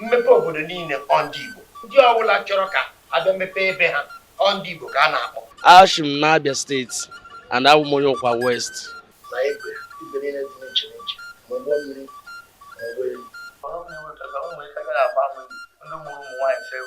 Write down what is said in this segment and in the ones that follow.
Mmepe obodo niile ọ ndị Igbo. Ndị ọbụla chọrọ ka a bịa mepee ebe ha ọ ndị Igbo ka a na-akpọ. Ashi m n'Abia steeti and abụ m onye Ụkwa West. Na igwe igwe niile dị n'iche n'iche ma ụgbọ mmiri ma ụgbọelu. Ọrụ m na-enweta ka ụmụ ike gara agba mmiri ndị mụrụ ụmụ nwaanyị sịrị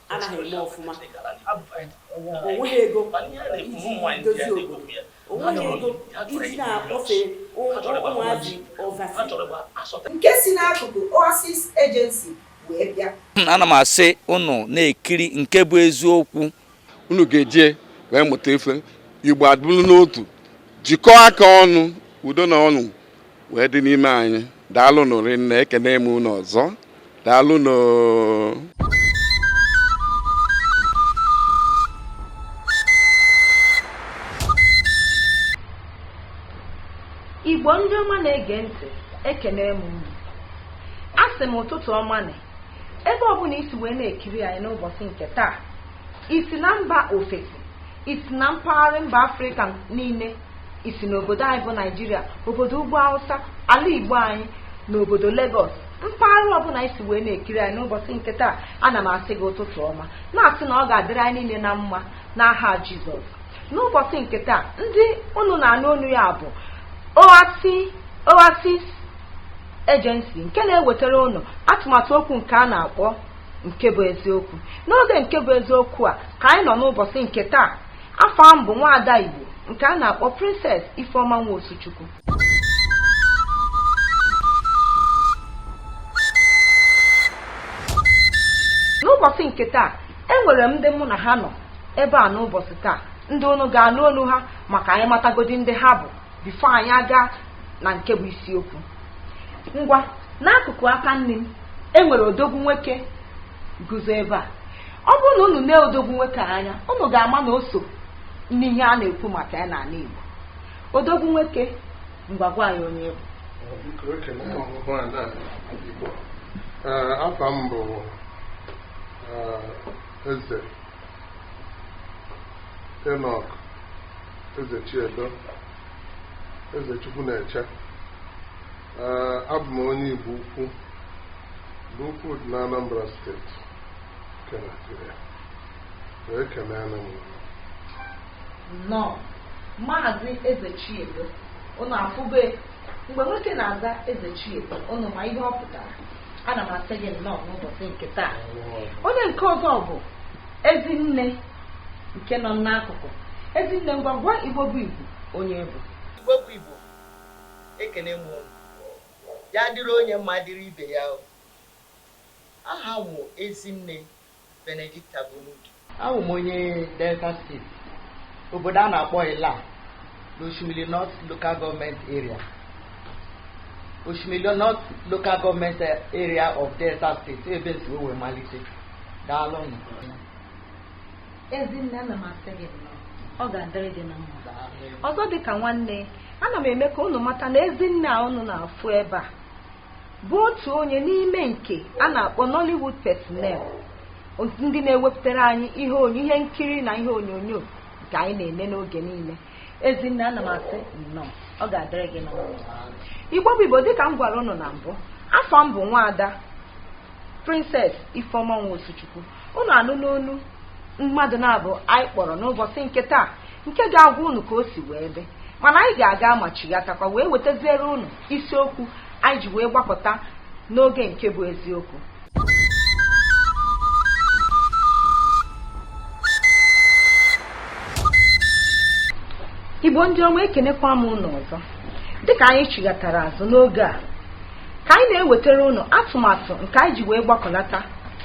anaghị eme ọfụma o nweghị ego iji dozie obodo o nweghị ego iji na-akpọfe ụmụazị overseas nke si n'akụkụ Oasis Agency wee bịa ana m asị unu na-ekiri nke bụ eziokwu unu ga-eji wee mụta ife igbo adịbụrụ n'otu jikọọ aka ọnụ udo na ọṅụ wee dị n'ime anyị daalụ nụ rinne ekene m unu ọzọ daalụ nụ igbo ndị ọma na-ege ntị ekene m unu a sị m ụtụtụ ọma na ebe ọbụla i si wee na-ekiri anyị n'ụbọsị nke taa i si na mba ofesi i si na mpaghara mba afrịka niile i si n'obodo anyị bụ naijiria obodo ugwu awụsa ala igbo anyị na obodo legọs mpaghara ọbụla i si wee na-ekiri anyị n'ụbọsị nke taa ana m asị gị ụtụtụ ọma na-asị na ọ ga-adịrị anyị niile na mma n'aha jizọs n'ụbọsị nke taa ndị unu na-anụ olu ya bụ oasis agency nke na-ewetara unu atụmatụ okwu nke a na-akpọ nke bụ eziokwu n'oge nke bụ eziokwu a ka anyị nọ n'ụbọsị nke taa Afa m bụ nwaada Igbo nke a na-akpọ Princess Ifeoma Nwosuchukwu. N'ụbọsị nke taa, enwere m ndị mụ na ha nọ ebe a n'ụbọsị taa ndị unu ga-anụ olu ha maka anyị matagodi ndị ha bụ before anyị aga na nke bụ isiokwu ngwa n'akụkụ aka nni m enwere odogwu nwoke guzo ebe a ọ bụrụ na unu nee odogwu nwoke anya unu ga-ama na o so n'ihe a na-ekwu maka ya n'ala Igbo odogwu nwoke ngwa gwa anyị onye ị bụ Biko ekele m ọhụhụ a na Igbo. Ee, afa m bụ ee, Eze Enoch Ezechiedo Eze Chukwu na-eche abụ m onye Igbo ukwu Igbo ukwu dị n'Anambra steeti nke Naijiria wee kelee na nnọọ maazị Ezechiedo unu afụbe mgbe nwoke na-aza Ezechiedo unu ma ihe ọ pụtara ana m asị gị nnọọ n'ụbọchị nke taa onye nke ọzọ bụ ezinne nke nọ n'akụkụ ezinne ngwa gwa igbo bụ igbo onye ị bụ igbo bụ igbo Ekene m unu. Ya dịrị onye mma dịrị ibe ya o. Aha m wụ Ezinne Benedicta Bonudu. Awụ m onye Delta Steeti, obodo a na-akpọ Illah n'Oshimili North Local Government Area, Oshimili North Local Government Area of Delta State, ebe n si wee malite. Daalụ nụ. Ezinne ana m asị gị nnọọ. Ọ ga-adịrị gị na mma. Ọzọ dị ka nwanne, ana m eme ka unu mata na Ezinne a unu na-afụ ebe a bụ otu onye n'ime nke a na-akpọ Nollywood personnel ndị na-ewepụtara anyị ihe onyo- ihe nkiri na ihe onyonyo nke anyị na-ene n'oge niile. Ezinne ana m asị nnọọ. Ọ ga-adịrị gị na mma. Igbo bụ Igbo dịka m gwara unu na mbụ, afa m bụ nwaada Princess Ifeoma Nwosuchukwu. unu anụ n'ọnụ mmadụ naabọ anyị kpọrọ n'ụbọchị nke taa nke ga-agwa unu ka o si wee dị mana anyị ga-aga ma chighatakwa wee wetaziere unu isiokwu anyị ji wee gbapụta n'oge nke bụ eziokwu igbo ndị ọma ekenekwa m unu ọzọ dịka anyị chighatara azụ n'oge a Ka anyị na-ewetara unu atụmatụ nke anyị ji wee gbakọlata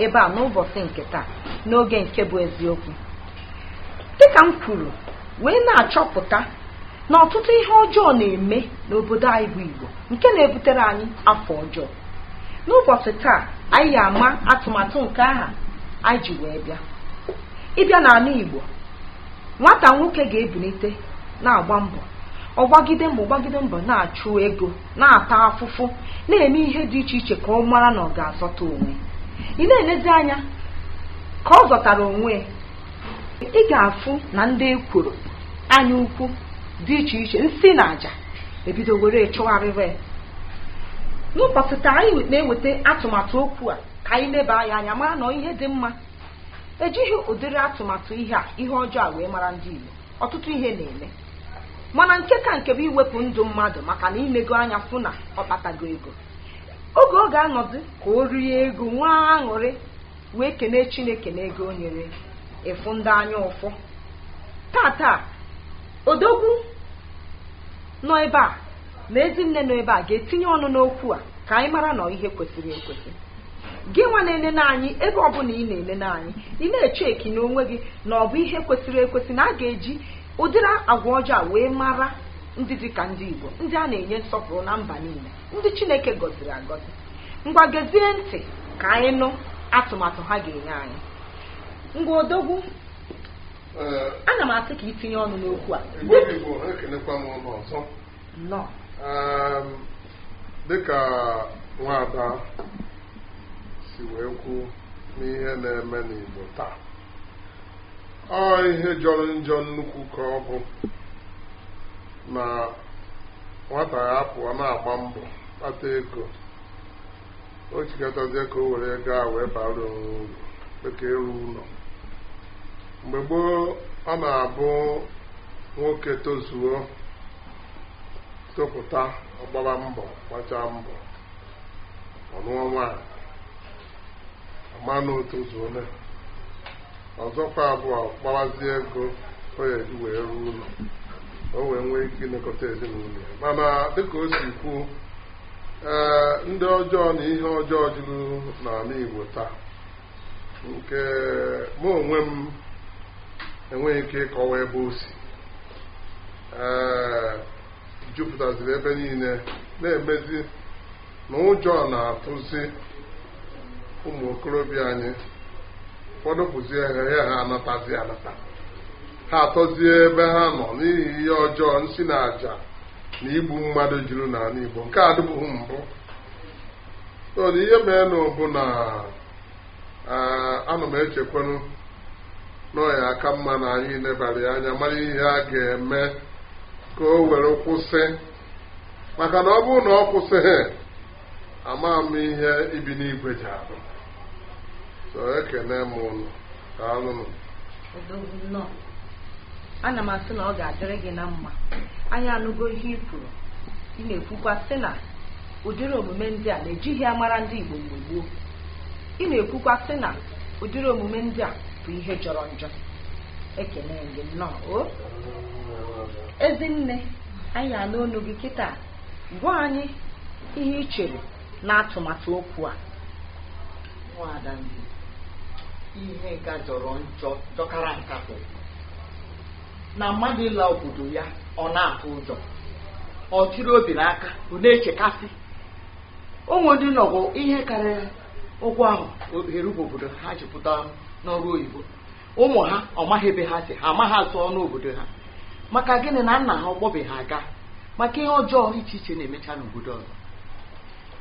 ebe a n'ụbọchị nke taa n'oge nke bụ eziokwu dịka m kwuru wee na-achọpụta na ọtụtụ ihe ọjọọ na-eme n'obodo anyị bụ Igbo nke na-ebutere anyị afa ọjọọ n'ụbọchị taa anyị ya-ama atụmatụ nke ahụ anyị ji wee bịa ị bịa n'ala Igbo nwata nwoke ga-ebulite na-agba mbọ ọ gbagide mbọ gbagide mbọ na-achụ ego na-ata afụfụ na-eme ihe dị iche iche ka ọ mara na ọ ga-azọta onwe ị na-elezi anya ka ọ zọtara onwe ị ga-afụ na ndị ekworo anya ukwu dị iche iche nsi na aja ebido were chụgharịwa ya n'ụbọchị taa anyị na-eweta atụmatụ okwu a ka anyị leba ya anya mara na ọ ihe dị mma ejighị ụdịrị atụmatụ ihe a ihe ọjọọ a wee mara ndị Igbo ọtụtụ ihe na-eme mana nke ka nke bụ iwepụ ndụ mmadụ maka na i nego anya fụ na ọ kpatago ego oge ọ ga-anọdụ ka o rie ego nwee aṅụrị wee kene chineke na ego o nyere ị fụ ndị anya ụfụ tata odogwu nọ ebe a na ezinne nọ ebe a ga-etinye ọnụ n'okwu a ka anyị mara na ọ ihe kwesịrị ekwesị gị nwa na-enene anyị ebe ọbụla ị na-enene anyị ị na-eche eki na onwe gị na ọ bụ ihe kwesịrị ekwesị na a ga-eji ụdịrị agwa ọjọọ wee mara ndị dị ka ndị Igbo ndị a na-enye nsọpụrụ na mba niile ndị Chineke gọziri agọzi ngwa gezie ntị ka anyị nụ atụmatụ ha ga-enye anyị ngwa odogwu Ee, ana m asị ka i tinye ọnụ n'okwu a Igbo dị Igbo ekelekwa m ụnụ ọzọ nnọọ Em, dịka nwaada si wee kwu na ihe na-eme n'Igbo taa ọ ihe jọrọ njọ nnukwu ka ọ bụ na nwata ya pụọ na-agba mbọ kpata ego ọ chịkọtazie ka o were ego a wee bara onwe uru dịka ịrụ ụlọ mgbe gboo ọ na-abụ nwoke tozuo topụta ọ gbara mbọ gbachaa mbọ ọ nụọ nwaanyị a ma na o tozuole ọzọkwa abụ ọ kpawazie ego ọ ya-eji wee rụọ ụlọ o wee nwee ike ilekọta ezinụlọ ya mana dịka o si kwuo ee ndị ọjọọ na ihe ọjọọ juru n'ala Igbo taa nke mụ onwe m enweghị ike ịkọwa ebe o si ee jupụtaziri ebe niile na-emezi na ụjọ na-atụzi ụmụ okorobịa anyị ụfọdụ pụzie ha ya ha anatazi anata ha atọzie ebe ha nọ n'ihi ihe ọjọọ nsi na aja na igbu mmadụ juru n'ala Igbo nke a adịbụghị mbụ so na ihe meenụ bụ na ah, ana m echekwanụ na ọ ya-aka mma na anyị nebara ya anya mara ihe a ga-eme ka o were kwụsị maka na ọ bụrụ na ọ kwụsịghị amaha m ihe ibi n'Igbo ji abụ so ekene m ụnụ kaanụ odogwu nnọọ ana m asị na ọ ga-adịrị gị na mma anyị anụgo ihe i kwuru ị na-ekwukwa sị na ụdịrị omume ndị a na ejighị amara ndị Igbo mgbe gboo ị na-ekwukwa sị na ụdịrị omume ndị a bụ ihe jọrọ njọ ekene m gị nnọọ o ezinne anyị anụ olu gị kịta Gwa anyị ihe i chere n'atụmatụ okwu a. Nwaada Ndi, ihe nka jọrọ njọ jọkara nka bụ na mmadụ ịla obodo ya ọ na-atụ ụjọ ọ chịrị obi n'aka ọ na-echekasị o nwee ndị nọgo ihe karịrị ọgụ ahọ erube obodo ha ji pụta n'ọrụ oyibo ụmụ ha amaghị ebe ha si ha amaghị asụ onu obodo ha maka gịnị na nna ha akpọbeghị aga maka ihe ọjọọ iche iche na-emecha n'obodo ọzọ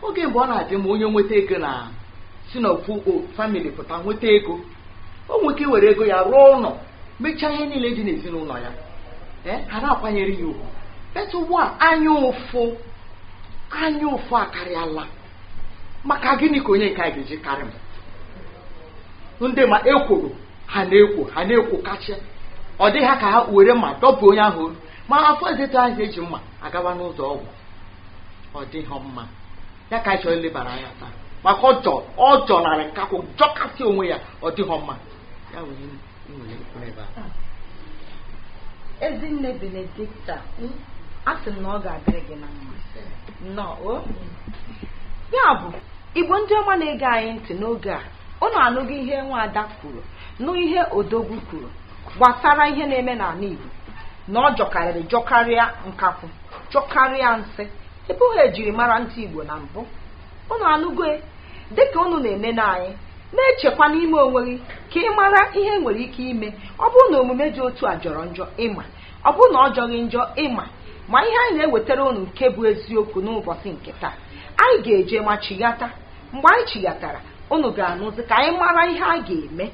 oge mbụ ọ na-adị mma onye nweta ego na si na ofu family pụta nweta ego o nwere ike were ego ya rụọ ụlọ mechaa ihe niile dị n'ezinụlọ ya ee ha na-akwanyere ya ugwu but ugbu a anya ụfụ anya ụfụ akarịala maka gịnị ka onye nke a ga-eji karị m ndị ma ekworo ha na-ekwo ha na-ekwo kacha ọ dị ha ka ha were mma dọpụ onye ahụ olu ma afọ ezetu ahụ eji mma agawa n'ụzọ ọgwụ ọ dịghị mma ya ka anyị chọrọ ilebara anya taa maka ọ jọ ọ jọnarị nkakwụ jọkasị onwe ya ọ dịghị mma Ya bụ ihe m nwere ikwu ebe a. ezinne Benedicta, a sị m na ọ ga-adịrị gị na mma nnọọ o ya bụ igbo ndị ọma na-ege anyị ntị n'oge a ụnụ anụgo ihe nwada kwuru nụ ihe odogwu kwuru gbasara ihe na-eme n'ala igbo na ọ jọkarịrị jọkarịa nkakwụ jọkarịa nsị ọ bụghị ya e jiri mara ndị igbo na mbụ Unu anụgo e? Dị ka unu na-enene anyị, na-echekwa n'ime onwe gị ka ị mara ihe e nwere ike ime ọ bụrụ na omume dị otu a jọrọ njọ ị ma ọ bụrụ na ọ jọghị njọ ị ma ma ihe anyị na-ewetara unu nke bụ eziokwu n'ụbọchị nke taa anyị ga-eje ma chighata mgbe anyị chighatara unu ga-anụzi ka anyị mara ihe a ga-eme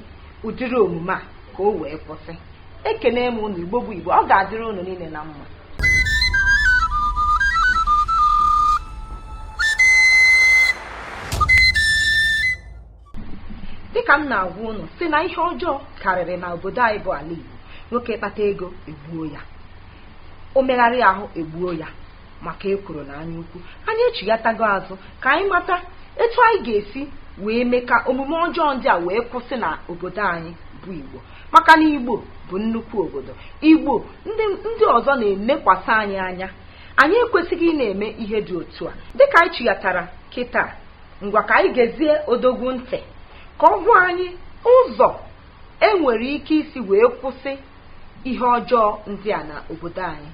ụdịrị omume a ka o wee kwụsị ekene m unu igbo bụ igbo ọ ga-adịrị unu niile na mma dịka m na-agwa unu sị na ihe ọjọọ karịrị na obodo anyị bụ ala igbo nwoke kpata ego egbuo ya o megharịa ahụ egbuo ya maka ekworo na anyaukwu anyị echighatago azụ ka anyị mata etu anyị ga-esi wee mee ka omume ọjọọ ndị a wee kwụsị na obodo anyị bụ igbo maka na igbo bụ nnukwu obodo igbo ndị ọzọ na-elekwasị anyị anya anyị ekwesịghị ịna-eme ihe dị otu a dịka anyị chighatara kịta ngwa ka anyị gezie odogwu ntị ka ọ gwa anyị ụzọ e nwere ike isi wee kwụsị ihe ọjọọ ndị a na obodo anyị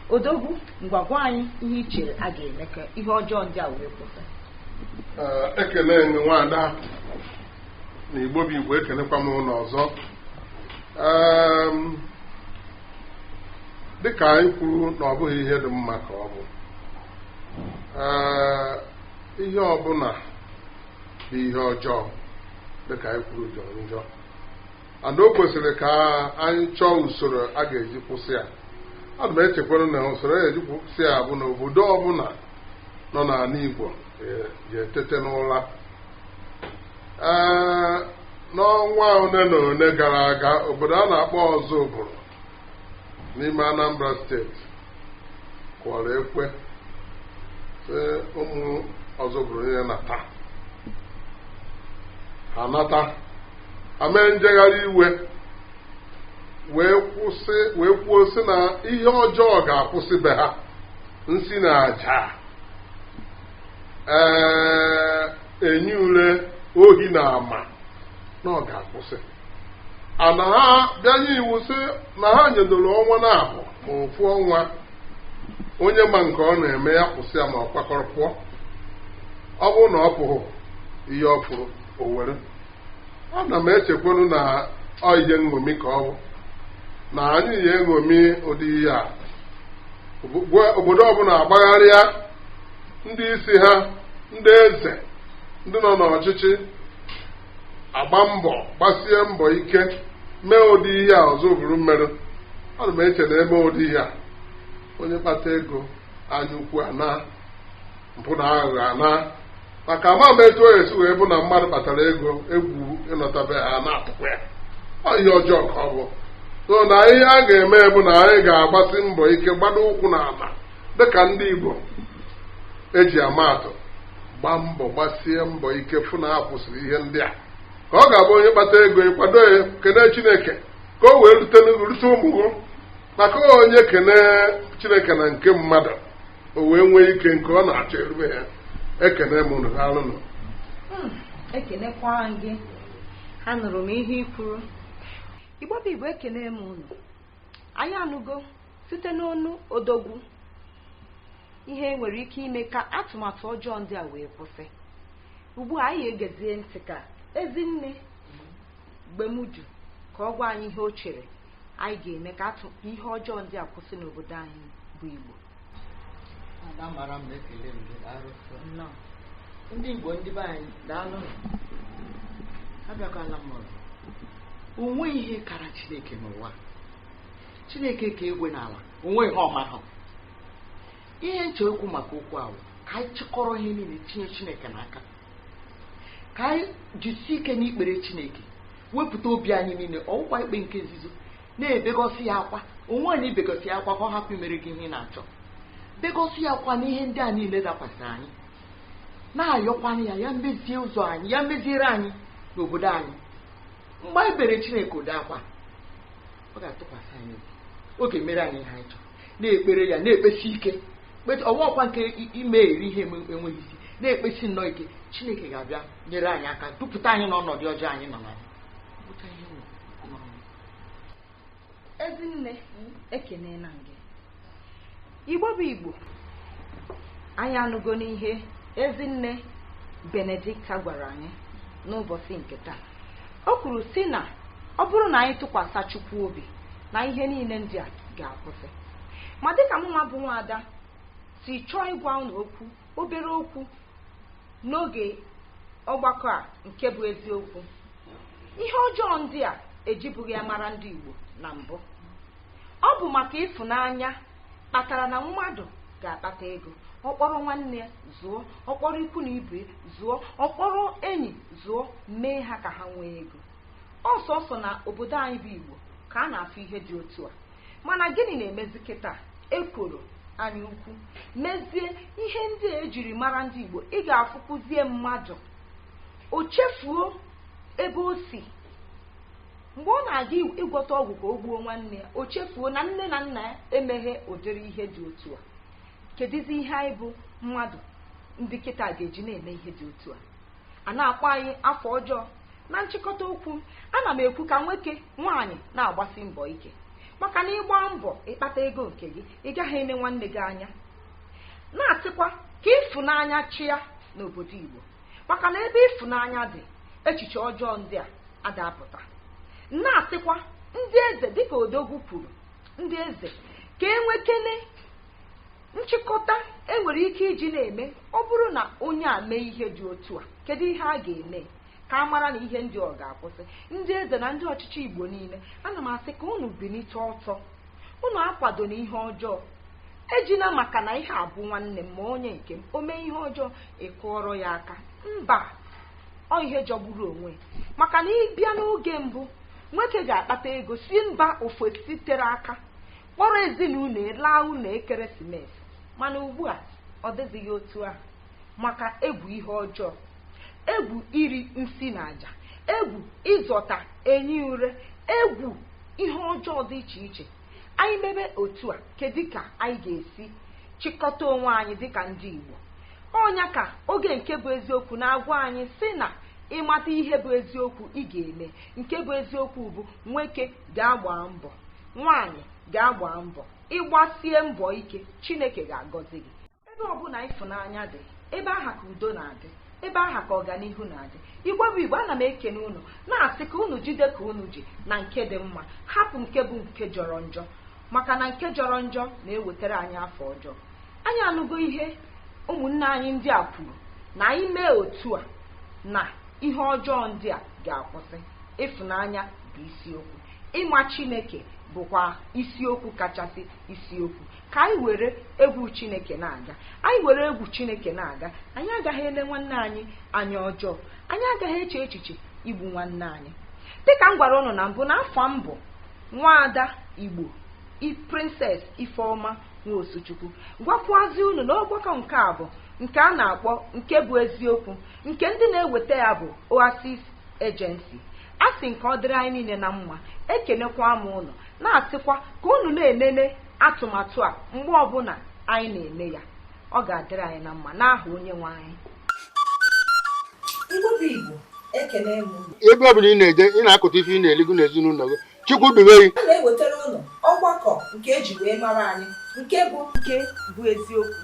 odogwu ngwa gwa anyị ihe i chere a ga-eme ka ihe ọjọọ ndị a wee kwụsị Ee, ekele m nwada na igbo bụ igbo ekelekwa m unu ọzọ Eem, dịka anyị kwuru na ọ bụghị ihe dị mma ka ọ bụ Ee, ihe ọbụla bụ ihe ọjọọ dịka anyị kwuru jọrọ njọ and o kwesịrị ka anyị chọọ usoro a ga-eji kwụsị ya ana m echekwara na usoro a ga-eji kwụsị ya bụ na obodo ọbụla nọ n'ala Igbo ga-etete n'ụra ee n'ọnwa ole na ole gara aga obodo a na-akpọ Ozubulu n'ime Anambra steeti kụọrọ ekwe sị ụmụ Ozubulu niile nata ha nata ha mee njegharị iwe wee kwuo sị na ihe ọjọọ ga-akwụsị be ha nsi na aja ee enyi ule ohi na ama na ọ ga-akwụsị ana ha bịa nye iwu sị na ha nyedoro ọnwa naabọ ma ofu ọnwa onye ma nke ọ na-eme ya kwụsị ya ma ọ kwakọrọ pụọ ọ bụrụ na ọ pụghị ihe ọ fụrụ o were ana m echekwanụ na ọ ihe nṅomi ka ọ bụ na anyị ya-eṅomi ụdị ihe a obodo ọbụla agbagharịa ndị isi ha ndị eze ndị nọ n'ọchịchị agba mbọ gbasie mbọ ike mee ụdị ihe a Ozubulu meru ana m eche na e mee ụdị ihe a onye kpata ego anya ukwu anaa mpụ na aghụghọ anaa maka ama m etu ọ ya-esi wee bụ na mmadụ kpatara ego egwu ịnọta be ha na-atụkwa ya ọ ihe ọjọọ ka ọ bụ so na ihe a ga-eme bụ na anyị ga-agbasi mbọ ike gbado ụkwụ n'ala dịka ndị Igbo e ji ama atụ gbaa mbọ gbasie mbọ ike fụ na a kwụsịrị ihe ndị a ka ọ ga-abụ onye kpata ego ịkwado ya kene Chineke ka o wee rute ụmụ gị maka onye kene Chineke na nke mmadụ o wee nwee ike nke ọ na-achọ erube ya ekene m unu daalụ nụ ekenekwara gị anụrụ m ihe i kwuru igbo bụ igbo ekene m unu anyị anụgo Site n'ọnụ odogwu, ihe e nwere ike ime ka atụmatụ ọjọọ ndị a wee kwụsị. Ugbu a, anyị egezie ntị ka Ezinne Gbemuju ka ọ gwa anyị ihe o chere anyị ga-eme ka ihe ọjọọ ndị a kwụsị n'obodo anyị bụ Igbo. Ada mara mma ekele m gị daalụ sọ. Nnọọ. Ndị Igbo ndị be anyị daalụ nụ. Abịakwala m ọzọ. O nweghị ihe kara Chineke n'ụwa. chineke kere igwe na ala o nweghị ihe ọ maghị ihe m chọ ikwu maka okwu a wụ ka anyị chịkọrọ ihe niile tinye chineke n'aka ka anyị jisie ike n'ikpere chineke wepụta obi anyị niile ọ wụkwa ikpe nke nzuzo na-ebegosi ya akwa onwe anyị ibegosi ya akwa ka ọ hapụ imere gị ihe ị na-achọ begosi ya akwa n'ihe ndị a niile dakwasịrị anyị na-ayọkwanụ ya ya mezie ụzọ anyị ya meziere anyị n'obodo anyị mgbe anyị beere chineke ụdị akwa ọ ga-atụkwasị anyị obi ọ ga-emere anyị ihe anyị chọrọ na-ekpere ya na-ekpesi ike kpet- ọnwa ọkwa nke i- ime iri ihe enwe- enweghị isi na-ekpesi nnọọ ike chineke ga-abịa nyere anyị aka dupụta anyị n'ọnọdụ ọjọọ anyị nọ na ya Ọ bụcha ihe m kwuru n'ọnụ. ezinne ekeneela m gị igbo bụ igbo anyị anụgo n'ihe ezinne benedikta gwara anyị n'ụbọchị nke taa o kwuru sị na ọ bụrụ na anyị tụkwasị chukwu obi na ihe niile ndị a ga-akwụsị ma dịka mụnwa bụ nwaada si chọọ ịgwa ụnụ okwu obere okwu n'oge ọgbakọ a nke bụ eziokwu ihe ọjọọ ndị a ejibụghị ya mara ndị igbo na mbụ ọ bụ maka ịfụnanya kpatara na mmadụ ga-akpata ego ọ kpọrọ nwanne ya zụọ ọ kpọrọ ikwu na ibe zụọ ọ kpọrọ enyi zụọ mee ha ka ha nwee ego ọ sọsọ na obodo anyị bụ igbo ka a na-afụ ihe dị otu a mana gịnị na-emezi kịta ekworo anya ukwu mezie ihe ndị a ejiri mara ndị igbo ị ga-afụkwuzie mmadụ o chefuo ebe o si Mgbe ọ na-aga ịgwọta ọgwụ ka o gbuo nwanne ya, o chefuo na nne na nna ya emeghị ụdịrị ihe dị otu a. Kedụzi ihe anyị bụ mmadụ ndị kịta ga-eji na-eme ihe dị otu a? A na-akpọ anyị afa ọjọọ. Na nchịkọta okwu m, ana m ekwu ka nwoke nwaanyị na-agbasi mbọ ike maka na ị gbaa mbọ ịkpata ego nke gị ị gaghị ene nwanne gị anya na-asịkwa ka ịfụnanya chịa n'obodo Igbo maka na ebe ịfụnanya dị echiche ọjọọ ndị a ada apụta na-asịkwa ndị eze dịka odogwu kwuru ndị eze ka e nwekene nchịkọta e nwere ike iji na-eme ọ bụrụ na onye a mee ihe dị otu a kedu ihe a ga-eme ka a mara na ihe ndị a ga-akwụsị ndị eze na ndị ọchịchị igbo niile ana m asị ka unu bilite ọtọ unu akwadona ihe ọjọọ ejina maka na ihe a bụ nwanne m ma onye nke m o mee ihe ọjọọ ị kụọrọ ya aka mba ọ ihe jọgburu onwe maka na ị bịa n'oge mbụ nwoke ga-akpata ego si mba ofesi tere aka kpọrọ ezinụlọ laa ụlọ ekeresimesi mana ugbu a ọ dịzighị otu ahụ maka egwu ihe ọjọọ egwu iri nsi na aja egwu ịzọta enyi ure egwu ihe ọjọọ dị iche iche anyị mebe otu a kedu ka anyị ga-esi chịkọta onwe anyị dịka ndị Igbo ọ nya ka oge nke bụ eziokwu na-agwa anyị sị na ị mata ihe bụ eziokwu ị ga-eme nke bụ eziokwu bụ nwoke ga-agba mbọ nwaanyị ga-agba mbọ ị gbasie mbọ ike Chineke ga-agọzi gị ebe ọ bụla ịfụnanya dị ebe aha ka udo na-adị ebe aha ka ọganihu na-adị igbo bụ igbo ana m ekene unu na-asị ka unu jide ka unu ji na nke dị mma hapụ nke bụ nke jọrọ njọ maka na nke jọrọ njọ na-ewetara anyị afa ọjọọ anyị anụgo ihe ụmụnne anyị ndị a kwuru na anyị mee otu a na ihe ọjọọ ndị a ga-akwụsị ịfụnanya bụ isiokwu ịma chineke bụkwa isiokwu kachasị isiokwu ka anyị were egwu chineke na-aga anyị were egwu chineke na-aga anyị agaghị ele nwanne anyị anya ọjọọ anyị agaghị eche echiche igbu nwanne anyị dịka m gwara ụnụ na mbụ na afa m bụ nwaada igbo prinses ifeoma nwa osuchukwu gwakwazi unu na ọgbakọ nke a bụ nke a na-akpọ nke bụ eziokwu nke ndị na-eweta ya bụ oasis ejensi asị m ka ọ dịrị anyị niile na mma ekenekwa m unu na-asịkwa ka unu na-enene atụmatụ a mgbe ọbụla anyị na-eme ya ọ ga-adịrị anyị na mma n'aha onye nwe anyị ebe ọ bụla ị na-eje ị na-akụta ife ị na-eli gị n'ezinụlọ gị chukwu dube gị a na-ewetara unu ọgbakọ nke eji wee mara anyị nke bụ nke bụ eziokwu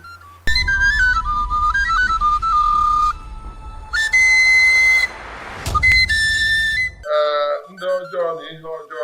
ndị ọjọọ na ihe ọjọọ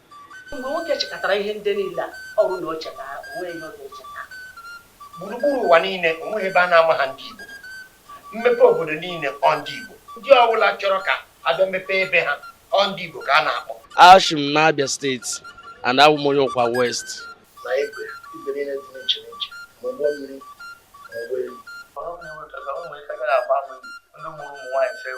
Mgbe nwoke chịkọtara ihe ndị niile a, ọ bụrụ na o cheta ha, o nweghị ihe ọ ga-echeta. Gburugburu ụwa niile, o nweghị ebe a na-amaha ndị Igbo. Mmepe obodo niile, ọ ndị Igbo. Ndị ọbụla chọrọ ka a bịa mepee ebe ha, ọ ndị Igbo ka a na-akpọ. Ashi m n'Abia steeti and awụ m onye Ụkwa West. Na igwe, igwe niile dị n'iche n'iche, ma ụgbọ mmiri, ma ụgbọelu. Ọrụ m na-enweta ka ụmụ ike gaghị agba m ndị mụrụ ụmụ nwaanyị sịrị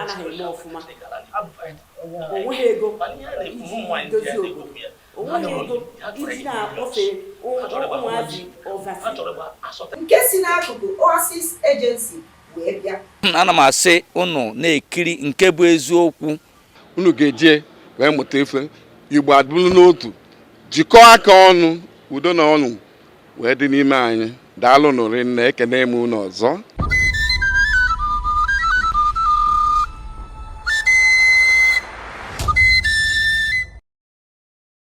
anaghị eme ọfụma onweghị ego iji dozie obodo onweghị ego iji na-akpọfe ụmụazị oversea nke si n'akụkụ Oasis Agency wee bịa ana m asị unu na-ekiri nke bụ eziokwu unu ga-eji wee mụta ife igbo adịbụrụ n'otu jikọọ aka ọnụ udo na ọṅụ wee dị n'ime anyị daalụnụ rinne ekene m unu ọzọ